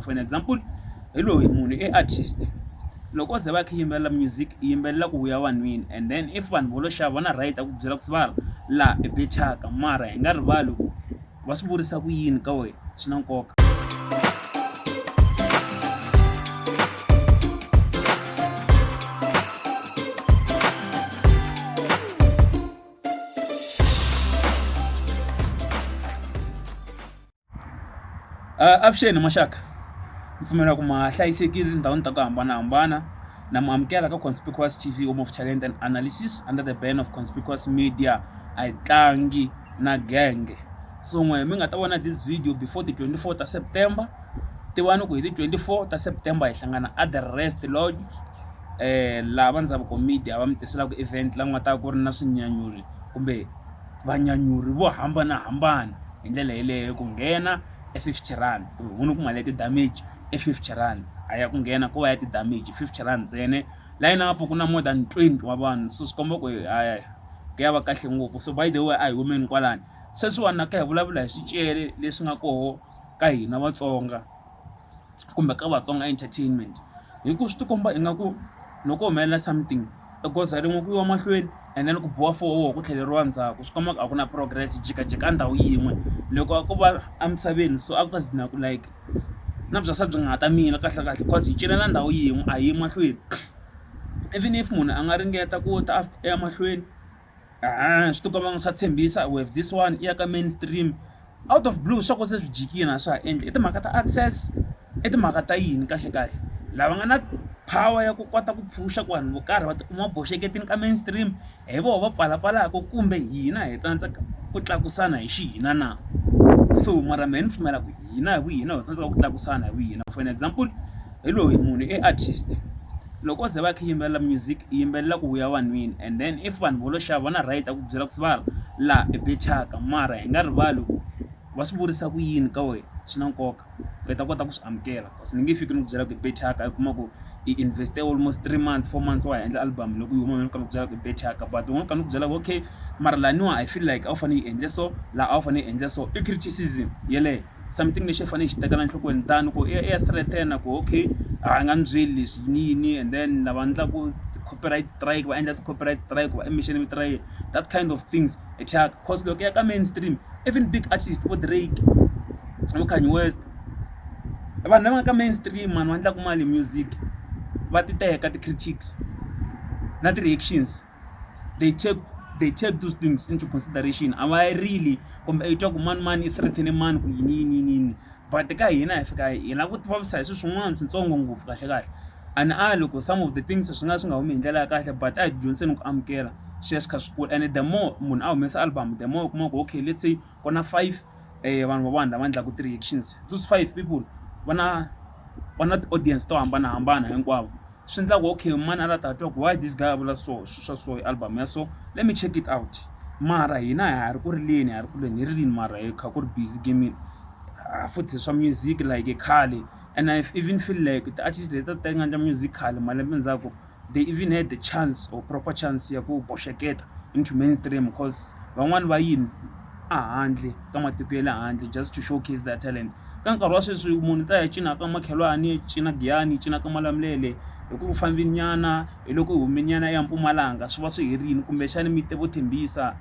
for an example hi loyi munhu i artist loko o ze va kha yimbelela music i yimbelela ku vuya vanhwini and then if vanhu vo lo xava va na right a ku byela ku sivara laha i bechaka mara hi nga rivali ku va swi vurisa ku yini ka wena swi na nkoka Avuxeni maxaka ni pfumela ku ma ha hlayisekile etindhawini ta ku hambanahambana na mi amukela ka conspicuous T_V home of talent and analysis under the ban of conspicuous media a hi tlangi na genge swin'we mi nga ta vona this video before ti twenty four ta September tivani ku hi ti twenty four ta September hi hlangana a the rest lodge laha va Ndzaveko media va mi tiselaka event la ku nga ta va ku ri na swinyanyuri kumbe. vanyanyuri vo hambanahambana hi ndlela yeleyo ku nghena e fifty rand ku ri ku mali ya ti-damage i fifty rand a ya ku nghena ko va ya ti-damage fifty rand ntsena layeni a ku na more than twenty wa vanhu so swi komba ku hi hayi ku ya va kahle ngopfu so by the way a hi humeni kwalano sweswiwani na kha hi vulavula hi swicele leswi nga koho ka hina Vatsonga. kumbe ka Vatsonga Entertainment hi ku swi ti komba ingaku loko ko humelela something i goza rin'we ku yiwa mahlweni and then ku biwa four ku tlheleriwa ndzhaku swi komba ku a ku na progress hi jikajika a ndhawu yin'we loko a ko va emisaveni so a ku ta ku like na bya se byi nga ha ta mila kahlekahle cause hi cinela ndhawu yin'we a hi yi mahlweni even if munhu a nga ringeta ku ta a ya mahlweni. Ahh swi tikomba nga swa tshembisa we have this one i ya ka mainstream out of blue swa ku se swi jikile a swa ha endli i timhaka ta access i timhaka ta yini kahle kahle lava nga na power ya ku kota ku phusha ku vanhu vo karhi va tikuma va boxeketini ka mainstream hi voho va pfalapfalaka kumbe hina hi tsandzeka ku tlakusana hi xihina na so mara mehe ni pfumela ku hina hi vu hina ho tsandzeka ku tlakusana hi vu hina for an example hi loyi munhu i artist. Loko ze va khe yimbelela music yimbelela ku ya vanhwini and then if vanhu volo xava na right a ku byela ku se va laha i be thyaka mara hi nga rivali ku va swi vurisa ku yini ka wena swi na nkoka u heta kota ku swi amukela kasi ni nge fiki ni ku byela ku i be thyaka i kuma ku i invest almost three months four months wa ha endla album loko yi huma mina ni kha ni ku byela ku i be thyaka but u kha ni ku byela ku okay mara laniwa I feel like a wu fanele yi endle so laha a wu fanele yi endle so i criticism yeleyo. something lexi hi fanele hi xi tekela enhlokweni than ku i ya i ya threaten ku okay a hi nga mi byeli leswi yini yini and then lava endlaku ti-corporate strike va endla ti-corporate strike va emission mi tirha yini that kind of things hi thyaka course loko ya ka mainstream even big artist vo Drake vo Kanye West i vanhu lava nga ka mainstream mani va endlaka mali music va ti teka ti-critics na ti-reactions. they take they take those things into consideration a va really kumbe i twa ku mani mani i threaten mani ku yini yini yini yini but ka hina hi fika hi lava ku tivavisa hi swilo swin'wana swintsongo ngopfu kahle kahle and a loko some of the things swi nga swi nga humi hi ndlela ya kahle but a hi dyondziseni ku amukela swi ya swi kha swi kula and the more munhu a humesa album the more u kuma ku okay let's say. ku na five vanhu va nga endlaka ti-reactions those five people va na va na ti-audience to hambanahambana hinkwavo swi endla ku okay mani a la ta twa ku why this guy a vula so swilo swa so hi album ya so let me check it out mara hina ha ri ku rileni ha ri ku leni hi rilini mara hi kha ku ri busy gamini futhi swa music like khale and I even feel like ti-artist leti a ti ta yi nga endla music khale malembe ndzhaku. they even had the chance or proper chance ya ku boxeketa into mainstream cause van'wani va yini a handle ka matiko ya le handle just to showcase their talent ka nkarhi wa sweswi munhu ta ya cina ka makhelwani cina giyani cina ka malamulele hi ku fambinyana hi loko hi humenyana ya mpumalanga swi va swi herini kumbexani mi te vo thembisa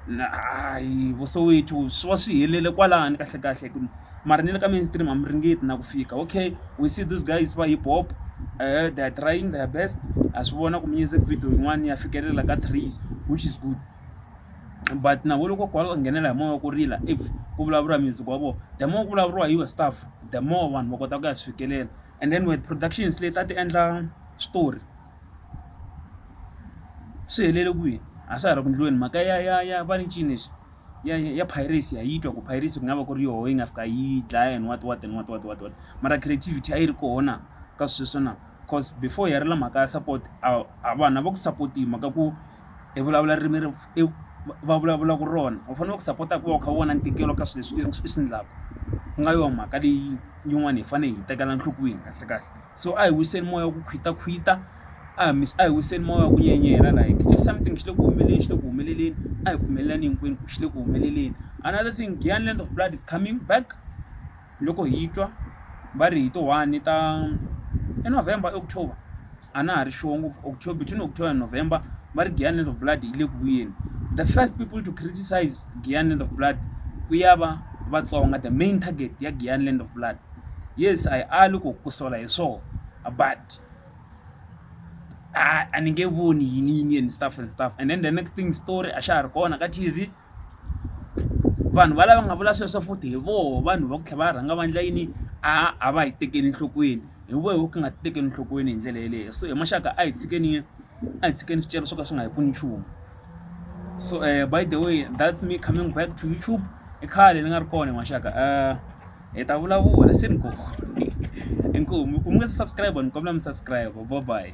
na hayi vo soweto swi va swi helele kwalano kahlekahle ku mara ni le ka mainstream a mi ringeti na ku fika okay we see these guys va hip hop they are trying their best ha swi vona ku music video yin'wana ya fikelela ka trees which is good but na vo loko kwala nghenela hi moya ku rila if ku vulavuriwa music wa vona the more ku vulavuriwa hi your stuff the more vanhu va kota ku ya swi fikelela and then with productions leti a ti endla switori. swi helele kwihi a swa ha ri ku ndliweni mhaka ya ya ya va ni ncini lexi ya ya piracy ha yi twa ku piracy ku nga va ku ri yoho yi nga fika yi dlaya and what what and what what what what mara creativity a yi ri koho na ka sweswo na coz before hi ya ri la mhaka ya support a a vanhu a va ku support-i hi mhaka ku i vulavula ririmi ri i va vulavulaka rona u fanele ku sapota ku va u kha u vona ntikelo ka swilo leswi i swi endlaka ku nga yona mhaka leyi yin'wana hi fanele hi tekela enhlokweni kahle kahle so a hi wiseni moya wa ku khwitakhwita a hi a hi wiseni moya wa ku nyenyela like if something xi le ku humeleleni xi le ku humeleleni a hi pfumelelani hinkwenu ku xi le ku humeleleni another thing Giyani Land of Blood is coming back loko hi twa va ri hi ti one ta i November i October. a na ha ri sure ngopfu october between october and november va ri giant land of blood yi le ku vuyeni the first people to criticize giant land of blood ku ya va vatsonga the main target ya giant land of blood yes a yi ali ku ku sola hi swona but a ni nge voni yini yini and stuff and stuff and then the next thing story a xa ha ri kona ka tv vanhu valava nga vula sweswo futhi hi voho vanhu va ku tlhela va rhanga va endla yini a a va hi tekeli enhlokweni hi voho ku nga tekeli enhlokweni hi ndlela yeleyo so hi maxaka a hi tshikeni a hi tshikeni swicele swo ka swi nga hi pfuni nchumu so um by the way that's me coming back to YouTube i khale ni nga ri kona hi maxaka um hi ta vulavula se ni ko inkomu u mi nga se subscribe ni kombela mi subscribe bye bye.